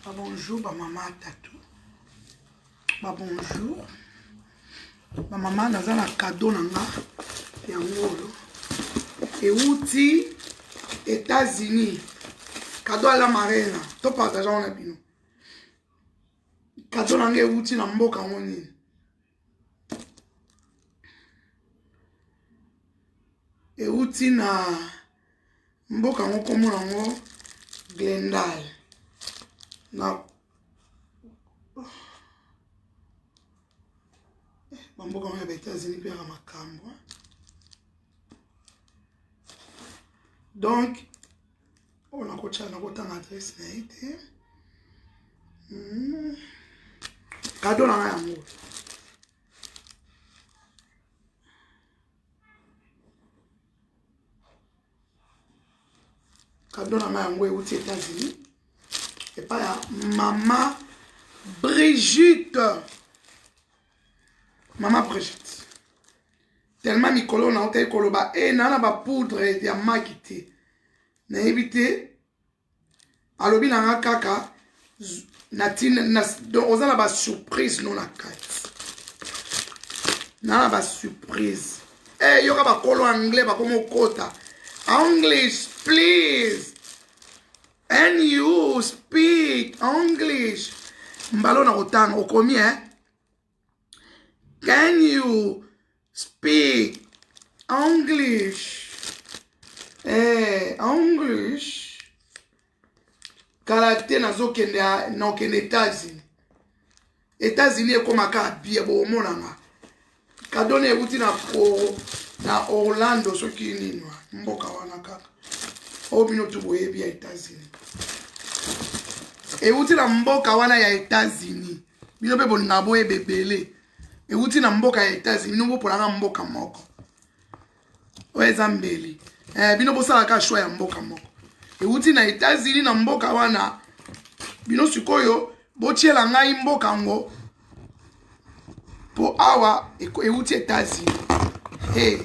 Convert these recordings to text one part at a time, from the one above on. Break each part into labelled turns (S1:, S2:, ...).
S1: babonjour bamama atatu babonjour bamama naza na kado na nga yango oyo euti états-unis kado ala marena topartageango na bino kado na nga euti na mboka yango nini euti na mboka yango nkombo yango glendal na bamboka yango ya ba états-unis mpe yaka makambo donc oyo nakotya nakotanga adrese na ye te hmm. kado na ngai yango kado na ngai yango euti états-unis epai ya mama brigitte mama brigitte Tellement mikolo na otaki koloba e na na ba poudre ya maki te nayebi te alobi na nga kaka natina na, donc oza na ba surprise no na kati na na ba surprise eh yoka bakolo anglais bakoma okota english please and you speak english mbalo na kotanga okomi eh Can you speak English? Eh, English. Kala te nazokende nakende États-Unis. États-Unis ekomaka bie bomonanga. Kadone euti na pro na Orlando soki nini mboka wana kaka. Oyo bino tu boyebi ya États-Unis. Euti na mboka wana ya États-Unis. bino mpe bolingaka boyeba ebele euti na mboka ya etats-unis bino bopolaka mboka moko oyo eza mbeli eh, bino bosalaka shwa ya mboka moko euti na etats-unis na mboka wana bino sikoyo botyela ngai mboka yango mpo awa euti etats-unis hey. Eh,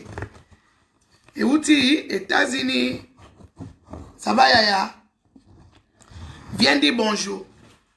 S1: euti etats-unis saba yaya viens di bonjour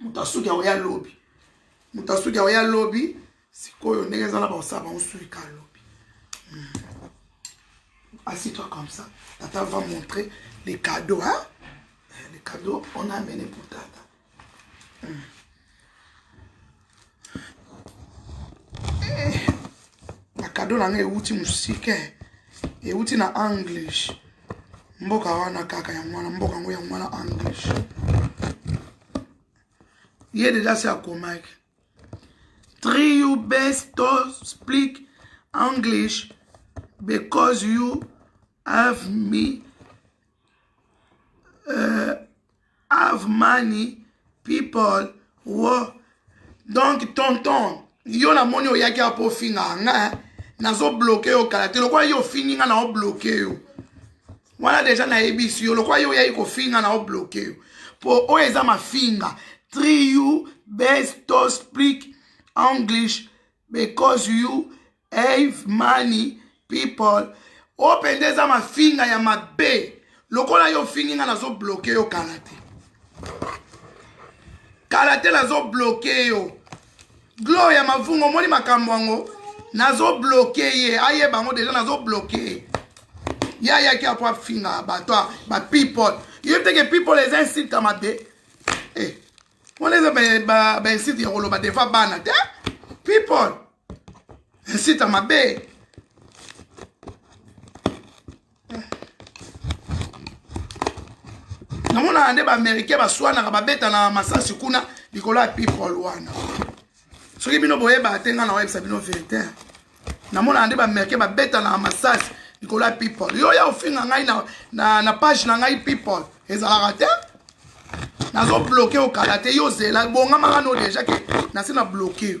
S1: moto asuki yango ya lobi moto asuki yango ya lobi sikoyo ndenge eza na baosala bango suki ka lobi hmm. asitwa comme ça tata va montrer les cadeaux hein? Eh, les cadeaux on a amené pour tata hmm. bakado na ngai ewuti mosike ewuti na english mboka wana kaka yango wana mboka yango yango wana english ye deja se akomaki three you best to speak english because you have me uh, have money people wo donc tonton yo namoni oyaki apo ofingaka nga eh? nazobloke yo kala te lokola yo ofingi nga na obloke yo wana deja nayebisi yo lokola yo oyaki kofinga na obloke yo mpo oyo eza mafinga tri you best to speak english because you Eve mani people oyo mpenza eza mafinga ya mabe lokola yo ofingi ngai nazobloke yo kala te kala te nazobloke yo glo ya mavungu omoni makambo yango nazobloke ye ayeba yango deja nazobloke ye ye ayaki apo afinga bato ba people yo teke people eza insulte ya mabe eh, wana eza bainsulte ya koloba defa bana te people esita mabe namonaka nde baaméricain baswanaka babetana masasi kuna likolo ya people wana soki bino boyebaka te ngai nakoyebisa bino verité namonaka nde baaméricain babetanaka masasi likolo ya people yo ya ofinga ngai na, na, na page na ngai people ezalaka te nazobloke okala te yo ozela bongamaka no deja ke nase na bloke yo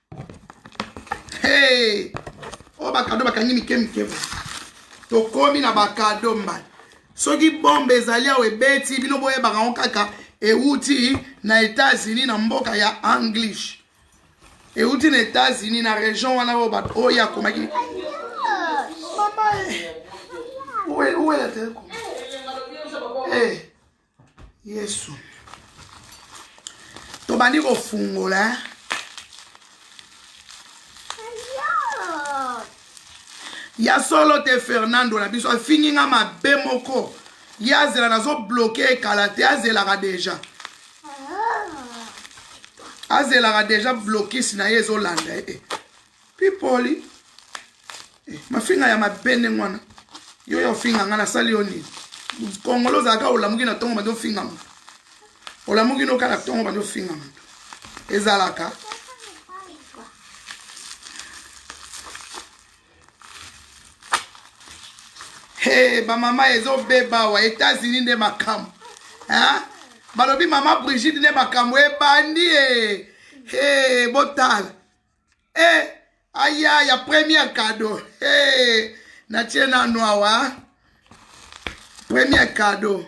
S1: Hey! oyo oh, bakado bakangi mike mike tokomi na bakado mbala soki bombe ezali awa ebeti bino boyebaka yango kaka euti na etats-unis na mboka ya english euti na etats-unis na region wana oyo bato oyo akomaki mama eh. uwela teleko eh. yesu tobandi kofungola eh? ya solo te fernando na biso afingi nga mabe moko ye azela nazobloke ekala te azelaka deja azelaka deja blokis na ye ezolanda ye eh, eh. Pipoli. Eh, mafinga ya mabe ndenge wana. Yo yo finga nga nasali yo nini? Kongolo ozalaka olamuki na tongo bandi ofinga moto. Olamuki noka na tongo bandi ofinga moto. Ezalaka. Hey, bamama ezobeba awa etats-unis nde makambo balobi mama brigide nde makambo ebandi e hey, botala eh, aya ya premier cadeau eh, natie nanu awa premier cadeau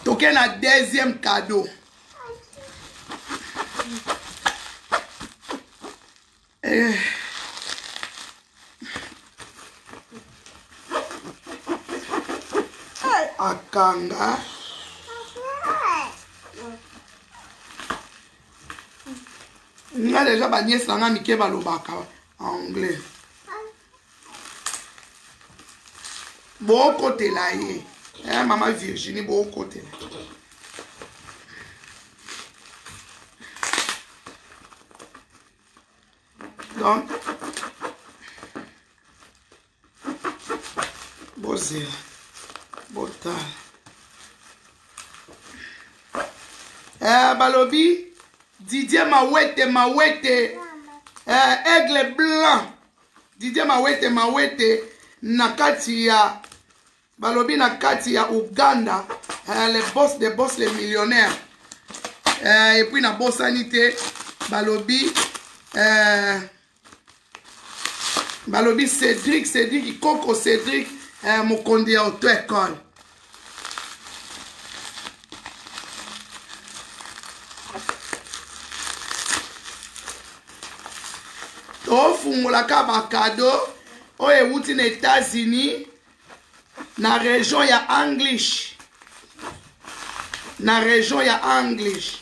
S1: toke na deuxième cadeau eh. akanga nga deja baniese na nga mike balobaka anglais bokotela ye eh, mama virginie bokotela donc bozela botala eh, balobi didier mawete mawete eh, aigle blanc didier mawete mawete na kati ya balobi na kati ya uganda eh, le boss de boss le millionnaire eh, epuis nabosani te balobi eh, balobi cédrik cédrik koko cédrik eh, mokonzi ya auto école tofungolaka bakado oyo ewuti na états-unis na région ya english na région ya english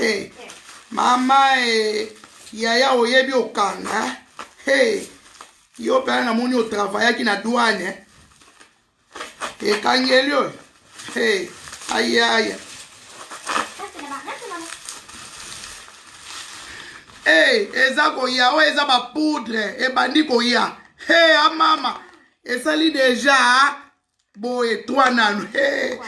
S1: Hey, mama eh, yaya oyebi okanga eh? hey, yo mpena namoni otravayaki na douane eh? ekangeli oyo hey, ayaya hey, eza koya oyo eza bapoudre ebandi koya hey, amama esali deja boye twa nanu hey.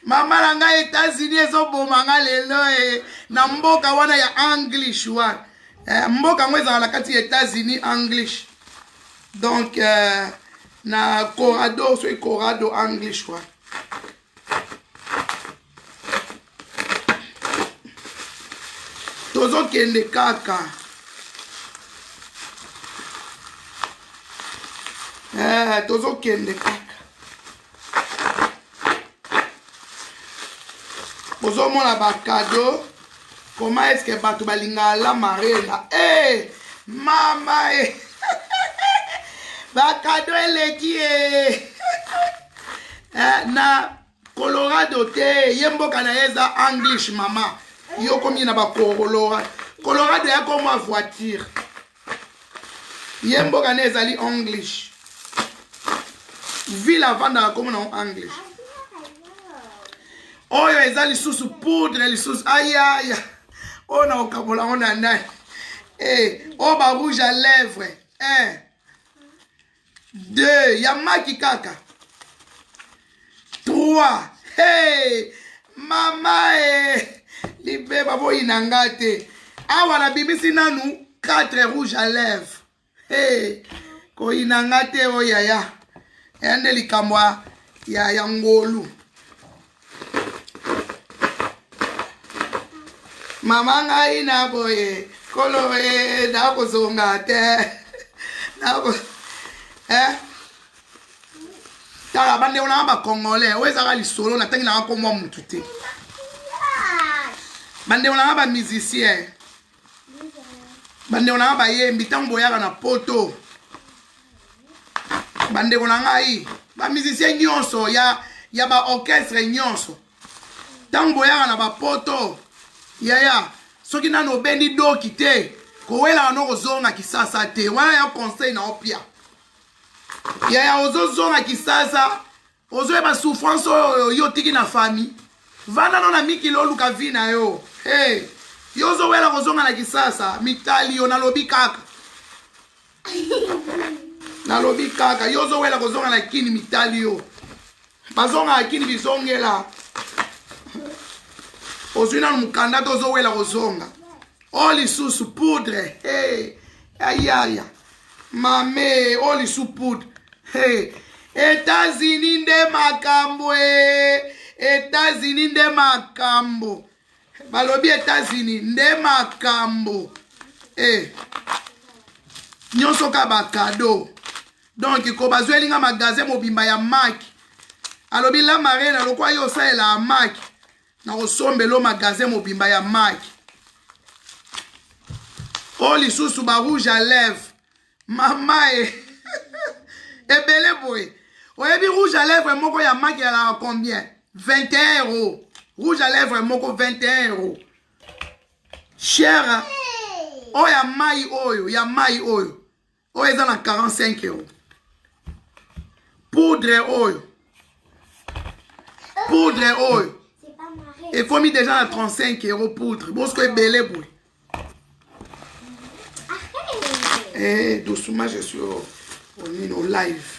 S1: mama na ngai etats-unis ezoboma ngai lelo e na mboka wana ya english wana eh, mboka yango ezala na kati ya etats-unis english donc eh, na corado soki corado english wana tozokende kaka eh, tozokende kaka ozomona bakado koma eske bato balingaka la marena e eh, hey, mama e eh. bakado eleki e eh, na Colorado te, ye mboka na ye eza English mama. Yo komi na ba Colorado. Colorado ya ko mwa voiture. Ye mboka na ezali English. Ville avandaka komo na English. Oyo eza lisusu poudre lisusu ayaya. Oyo na okabola ngo na nani? Eh, oyo ba rouge à lèvres. Eh. 2 ya maki kaka 3 hey, mama e libeba boyina nga te awa nabimisi nanu 4 rouge à lèvre hey, koyina nga te o oh, yaya ya nde likambo ya, ya ngolu mama ngai na boye kolo e nakozonga te nako eh? tala bandeko nanga bacongolais oyo ezaka lisolo natangi nanga komwa motu te bandeko nanga bamusicien bandeko na ngai bayembi ntango boyaka na poto bandeko na ngai bamusicien nyonso ya, ya baorchestre nyonso ntango boyaka na bapoto yaya soki nano obendi doki te kowelaka no kozonga kisasa te wana ya conseil na opia yaya ozozonga kisasa ozoyeba souffrance oyo yo otiki na famille vanda no na mikili oluka vie na yo hey, yo ozowela kozonga na kisasa mitali yo nalobi kaka nalobi kaka yo ozowela kozonga na kini mitali yo bazongaka kini bizongela ozwi nano mokanda to ozowela kozonga o oh, lisusu poudre hey, ayaya Mamee, oyo lisu poudre. Hey. Etats-Unis nde makambo ee. Etats-Unis nde makambo. Balobi Etats-Unis nde makambo. Eh. Nyonso ka ba cadeau. Donc ko bazweli nga magasin mobimba ya Mac. Alobi la marina lokwa yo osalela Mac. nakosombela yo magasin mobimba ya maki o lisusu ba rouge à lèvre mama e ebele boye oyebi rouge à lèvre moko ya maki yalaka combien 21 euros rouge à lèvre moko 21 euros cher oyo ya mai oyo ya mai oyo oyo eza na 45 euro poudre oyo poudre oyo ekomi deja na 35 euro poudre bosiko ebele boye eh, dosuma je suis onino live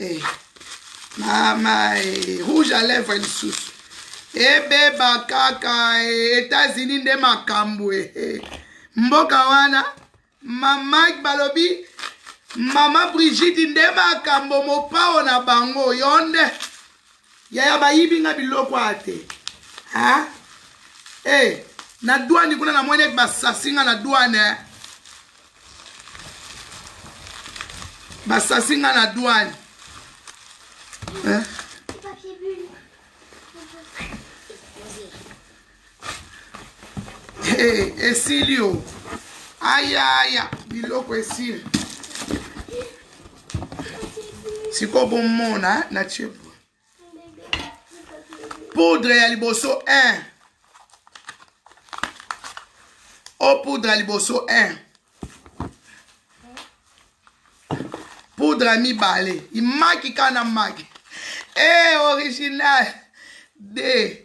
S1: Eh, mama eh, rouge à lèvre lisusu ebeba kaka eh, etats-unis nde makambo eh, eh. mboka wana Maman balobi mama Brigitte nde makambo mopao na bango yo nde yaya bayibi nga biloko a te ha e eh, na douane kuna namoni ete basasi nga na douane eh. basasi nga na douane eh? hey, eh, esili o ayaya biloko esili sikoyo bomona na tie poudre ya liboso 1 o poudre ya liboso 1 poudre ya mibale imaki kaka na maki e eh, hey, original de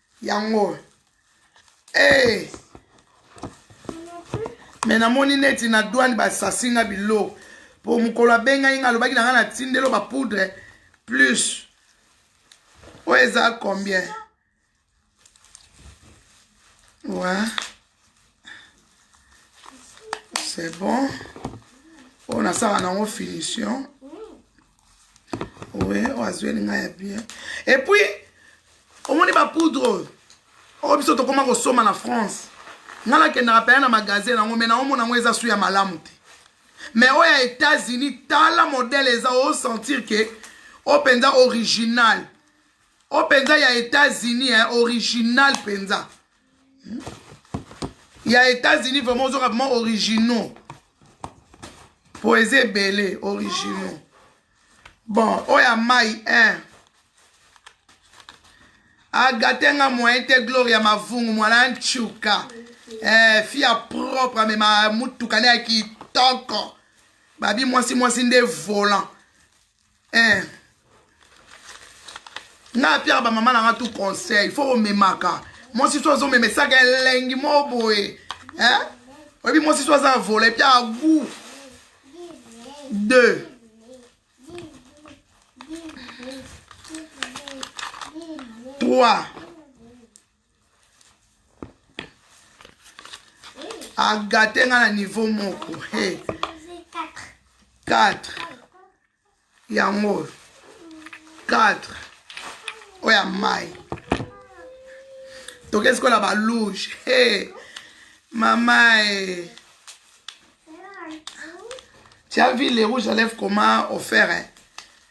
S1: yango hey. Eh. me namoni neti na douane basasi nga biloko mpo mokolo abengaki nga alobaki na nga na tindelo bapoudre plus oyo eza combien wa ouais. c'est bon oyo nasala nango finition oui oyo azweli ngai ya bien epuis omoni bapoudre oyo oyo biso tokoma kosomba na france ngai nakendaka mpenza na magasin yango mai naomona yango eza su ya malamu te mai oyo ya états-unis tala modele eza osentir ke oyo mpenza original oyo mpenza ya états-unis eh, original mpenza ya états-unis vraiment ozoka vraiment originaux po eza ebele originaux bon oyo ya mai 1 agate nga moyen te gloria mavungu mwana nchuka eh, fi ya propre amema motuka ne ya kitoko babi mwasi mwasi nde volant eh. nga apiaka bamama na nga tout conseil fo komemaka mwasi so azomemesaka elengi mo boye eh? oyebi mwasi so aza vola epiaka gout deux trois agate nga na niveau moko hey. 4 yango oyo 4 oyo ya mai toke sikola balouge hey. mama e tia vile rouge alève comment offert eh.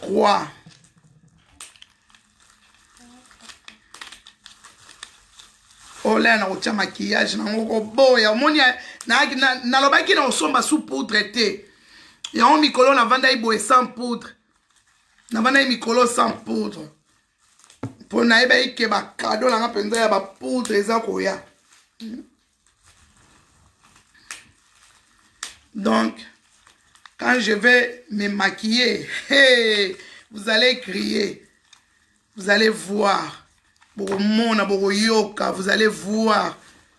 S1: Trois. olaya na kotya makiyage nango koboya omoni nalobaki na kosomba sous poudre te yango mikolo navandaki boye sans poudre navandaki mikolo sans poudre mpo nayebaki ke bakado na nga mpenza ya bapoudre eza koya donc quand je vais me maquiller hey, vous allez crier vous allez voir bokomona bokoyoka vous allez voir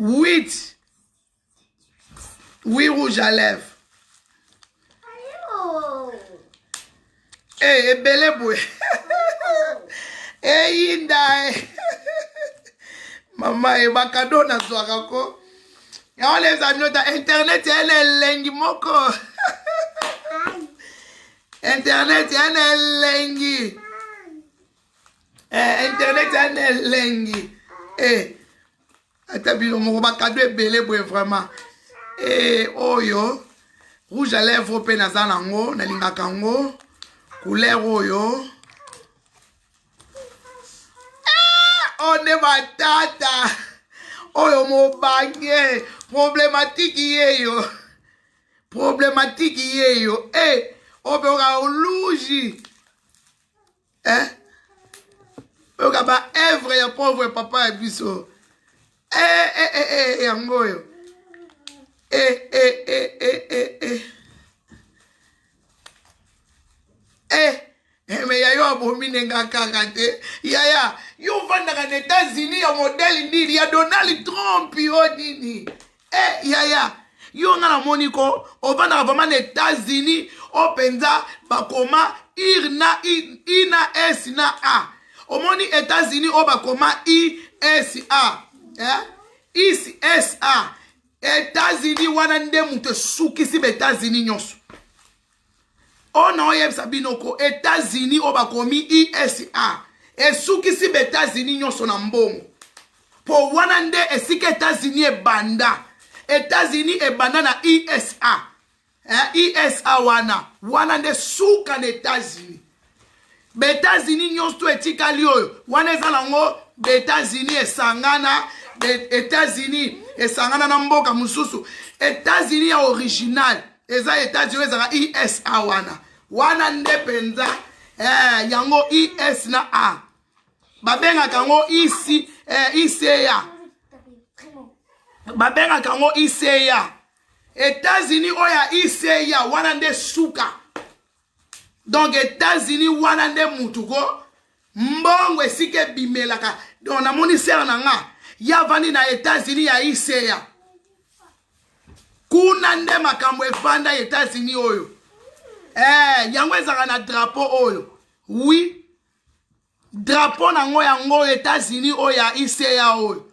S1: 8 8 rouge à lèvres hey, eh, ebele boye eyinda eh, eh. mama ye bakado nazwaka ko yango leza minota internet ya na elengi moko internet ya na elengi eh, internet ya na elengi eh, ata bino moko bakado ebele boye vraiment eh, oyo rouge à lèvre mpe naza nango nalingaka yango couleur oyo eh, oyo nde batata oyo mobange problematike yeyo problematike yeyo e eh, oyo mpe okaa oluji eh? oyoka ba evre ya pauvre papa ya biso eh, eh, eh, eh, eh yango oyo eh, eh, eh, eh, eh, eh. Eh, eh, me yayo abomi nenga kaka te yaya yo ofandaka na etats-unis ya modele nini ya donald trump yo nini Eh yaya yo nga namoni ko ovandaka vraiment na Etats-Unis o mpenza bakoma ir na i, i na s na a omoni Etats-Unis oyo bakoma i s a eh? is s a Etats-Unis wana nde moto esukisi ba Etats-Unis nyonso oyo na oyebisa bino ko etats-unis oyo bakomi usa esukisi ba etats-unis nyonso na mbongo mpo wana nde esika etats-unis ebanda etats-unis ebanda na usa eh, usa wana wana nde suka na etats-unis Baetats-Unis nyonso etikali oyo wana eza nango Baetats-Unis esangana Etats-Unis esangana na mboka mosusu Etats-Unis ya original eza Etats-Unis ezalaka IS a wana wana nde mpenza eh, yango IS na A babengaka yango IC, eh, ICA babengaka yango ICA Etats-Unis oyo ya ICA wana nde suka donc etats-unis wana nde mutu ko mbongo esika ebimelaka donc namoni sere na nga ye avandi na etats-unis ya iseya kuna nde makambo efanda etats-unis oyo eh, yango ezalaka na drapo oyo wi drapo na yango yango etats-unis oyo ya iseya oyo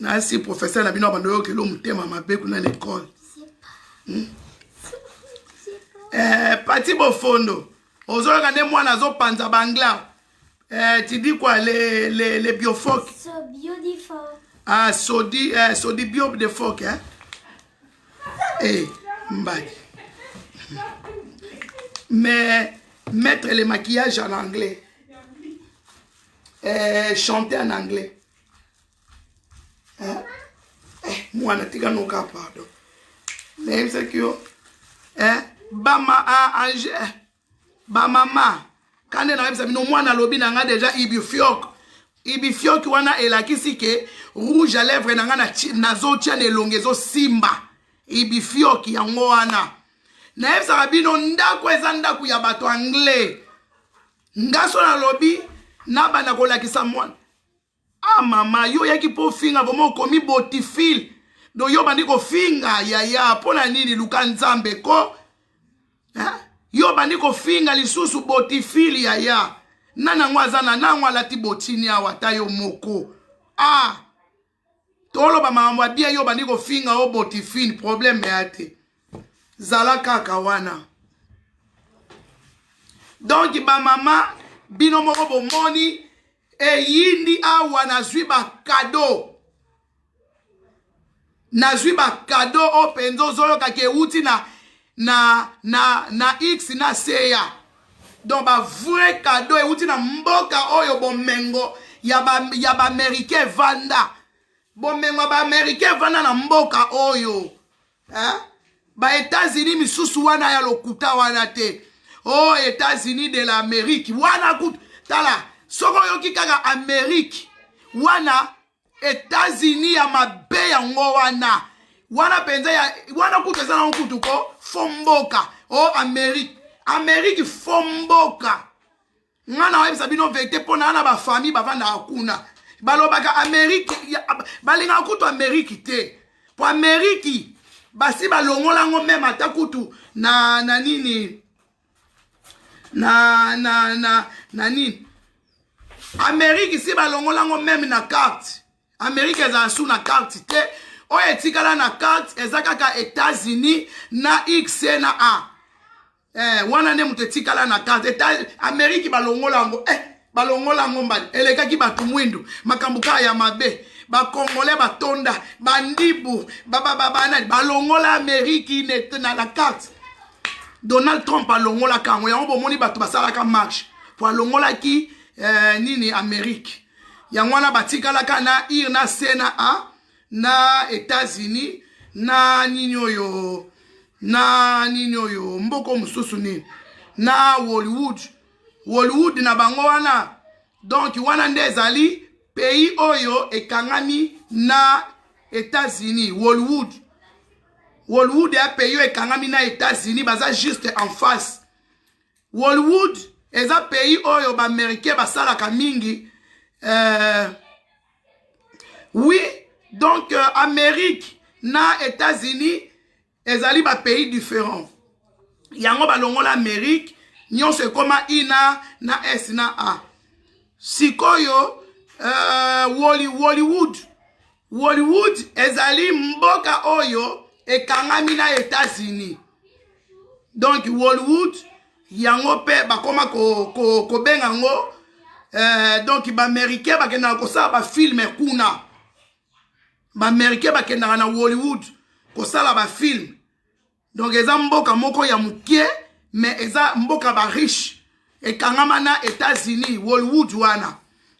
S1: nasi professeur na bino abanda oyokela motema mabe kuna na ekole hmm? eh, pati bofondo ozoyoka nde mwana azopanza bangla eh, tidi kwa le, le, le biofoke so
S2: ah, sodi,
S1: eh, sodi bio de foke eh? hey, eh, mbadi mais mettre le maquillage en anglais eh, chanter en anglais eh, eh, mwana tika noka pardon nayebisaki yo eh, bama ah, ange eh, bamama kande nayebisa bino mwana alobi na ngai deja ibifiok ibifiok wana elakisi ke rouge à lèvre na ngai nazotia na elongi ezosimba ibifiok yango wana nayebisaka bino ndako eza ndako ya bato anglais ngaso nalobi nabanda kolakisa mwana ah mama yo oyaki mpo ofinga vraimen okomi botifile do yo obandi kofinga yaya mpo na nini luka nzambe ko eh? yo obandi kofinga lisusu botifile yaya nani yango aza na nango alati botini awa ata yo moko ah toloba makambo ya bia yo obandi kofinga o botifile probleme ya te zala kaka wana donk bamama bino moko bomoni eyindi awa nazwi bakado nazwi bakado oyo mpenza ozoyokaki euti na na na na x na seya donc bavrai kado euti na mboka oyo bomengo ya baamericain ba evanda bomengo ya baamericain evanda na mboka oyo hein? ba etats-unis misusu wana ya lokuta wana te o oh, etats-unis de la amérique wana kutu tala soki oyoki kaka amérique wana etats-unis ya mabe yango wana wana mpenza ya wana kutu eza nango kutu ko fo mboka o oh, amérique amérique fo mboka nga na oyebisa bino verite mpo na na bafamille bavandaka kuna balobaka ameriki balingaka kutu ameriki te mpo ameriki basi balongolango meme ata kutu na na nini na na na na nini ameriki si balongolango meme na carte ameriki ezala su na carte te oyo etikala na carte eza kaka etats-unis na x na a eh, wana nde moto etikala na carte eta ameriki balongola yango eh, balongola yango mbadi elekaki bato mwindu makambo kaka ya mabe bakongole batonda bandibu babababanani balongola ameriki na la carte donald trump alongolaka yango yango bomoni bato basalaka marche mpo alongolaki eh, nini ameriki yango wana batikalaka na ir na c na a na Etats-Unis na nini oyo na nini oyo mboko mosusu nini na Hollywood Hollywood na bango wana donc wana nde ezali pays oyo ekangami na Etats-Unis Hollywood Hollywood ya pays oyo ekangami na Etats-Unis baza juste en face Hollywood eza pays oyo ba américain basalaka mingi euh, oui donc euh, amérique na états-unis ezali ba pays différent yango balongola amérique nyonso ekoma ina na s na a sikoyo euh, Wally, hollywood Hollywood ezali mboka oyo ekangami na Etats-Unis. Donc Hollywood yango mpe bakoma kobenga ko, ko yango eh, donc baaméricain bakendaka kosala bafilme kuna baaméricain bakendaka na hollywood kosala bafilme donc eza mboka moko ya mokie mais eza mboka ba riche ekangama na états-unis wolwood wana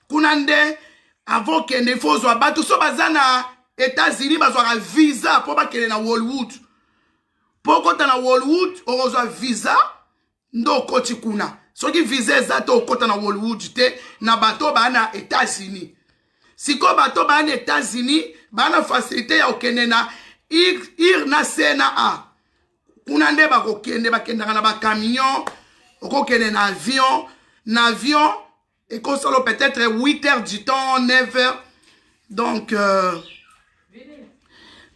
S1: kuna nde avant okende ifo ozwa bato so baza na états-unis bazwaka visa mpo bakende na wolwood mpo okota na wolwood okozwa visa nde okoti kuna soki visa eza te okota na hollywood te na bato oyo baa na états-unis sikoyo bato baa na états-unis baa na facilité ya kokende na ir na c na a kuna nde bakokende bakendaka na bacamion okokende na avion na avion ekosalo peut-être 8 heures du temps 9 heures donc euh,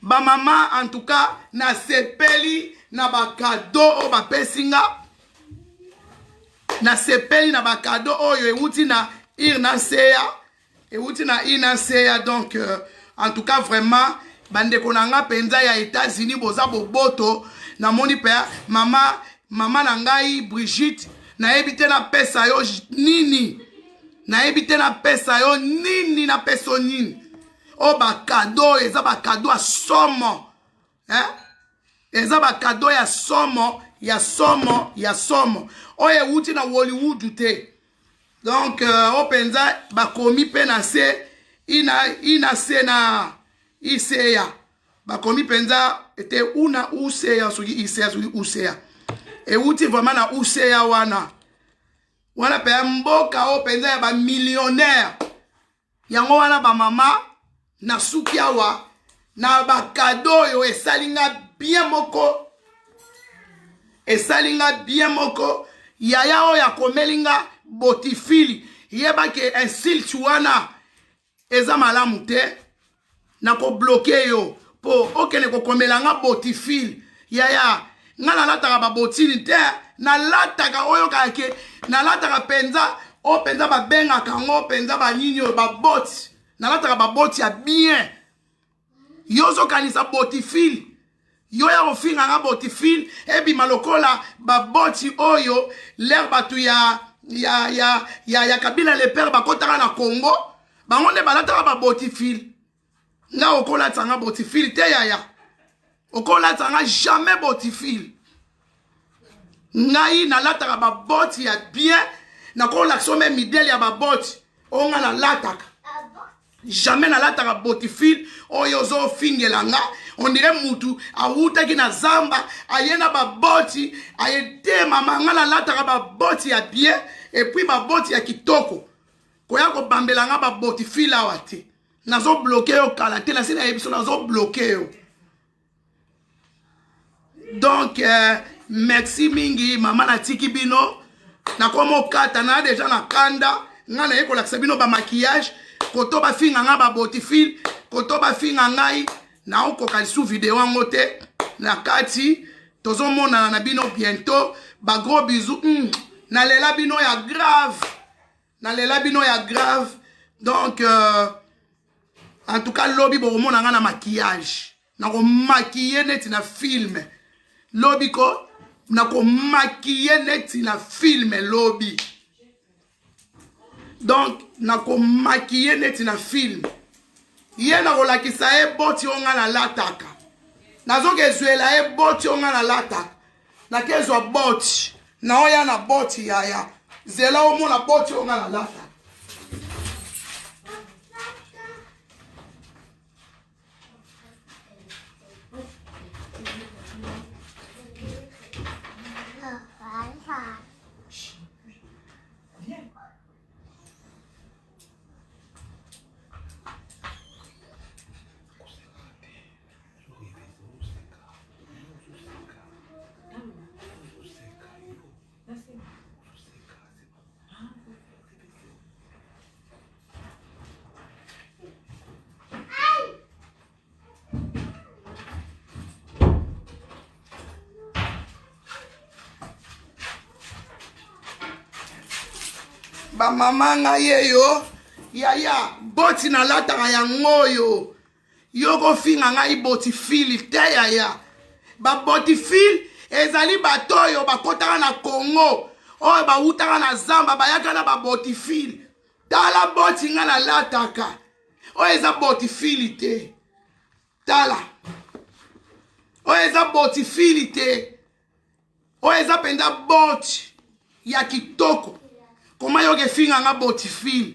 S1: bamama en tout cas nasepeli na bakado oyo bapesi nga nasepeli na bakado oyo euti na ir na nseya euti na ir na nseya donc euh, en tout cas vraiment bandeko na nga mpenza ya états-unis boza boboto namoni mpe mama mama na ngai brigitte nayebi te napesa yo nini nayebi te napesa yo nini napesa yo nini oyo bakado oyo eza bakado ya somo eh? eza bakado ya somo ya somo ya somo oyo ewuti na hollywood te donc euh, oyo mpenza bakomi mpe na se ina, ina se na iseya bakomi mpenza ete una uca soki ica soki uca euti vraiment na uca wana wana mpenza mboka oyo mpenza ya bamillionnaire yango wana bamama nasuki awa na bakado oyo esali nga bien moko esali nga bien moko yaya oyo akomeli nga botifili yebaki insulte wana eza malamu te nakobloke yo mpo okende kokomela nga botifile yaya nga nalataka babotini te nalataka oyo kake nalataka mpenza oyo mpenza babengaka yango mpenza banini oyo baboti nalataka baboti ya bien yo ozokanisa botifile yo ya kofinga nga botifile ebima lokola baboti oyo lere bato ya ya ya ya, ya kabila lepere bakotaka na congo bango nde balataka babotifile nga okolatisa nga botifile te yaya okolatisa nga jamais botifile ngai nalataka baboti ya bien nakolakisa ome midele ya baboti oyo ngai nalataka jamais nalataka botifile oyo ozofingela nga ondire mutu awutaki na zamba aye na baboti aye te mama ngai nalataka baboti ya bien epuis baboti ya kitoko koya kobambela nga babotifile awa te nazo bloke yo kala te nase nayebi so nazo bloke yo donc euh, merci mingi mama natiki bino nakoma okata na deja na kanda ngai naye kolakisa bino bamakiyage koto bafinga ngai baboti fil koto bafinga ngai naokoka lisu video yango te na kati tozomonana na bino bientôt bagros bisou mm, nalela bino ya grave na lela bino ya grave donc euh, en tout cas lobi bokomona nga na maquillage nakomakiye neti na filme lobi ko nakomakiye neti na filme lobi donc nakomakiye neti na filme ye nakolakisa ye boti oyo ngai nalataka nazoka ezwela ye boti oyo ngai nalataka nakezwa boti naoya na boti yaya zela omona boti oyo nga nalata bamama ngai eyo yaya boti nalataka yango oyo yo kofinga ngai botifili te yaya babotifili ezali bato oyo bakotaka na congo oyo bawutaka na zamba bayaka na babotifili tala boti ngai nalataka oyo eza botifili te tala oyo eza botifili te oyo eza mpenza boti ya kitoko koma yoka efinga nga boti file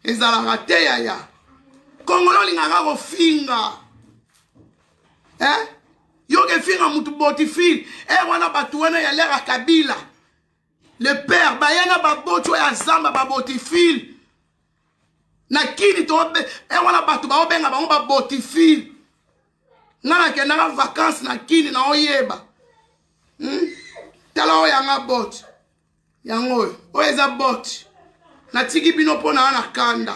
S1: ezalaka te yaya kongolo olingaka kofinga eh? yoka efinga motu boti file ere eh, wana bato wana ya lera kabila le père baya na baboti oyo ya zamba baboti file na kini to e eh, wana bato baobenga bango babotifile nga nakendaka vakanse na kini na oyeba hmm? tala oyo yanga boti yango oyo oyo eza boti natiki bino mpo na na kanda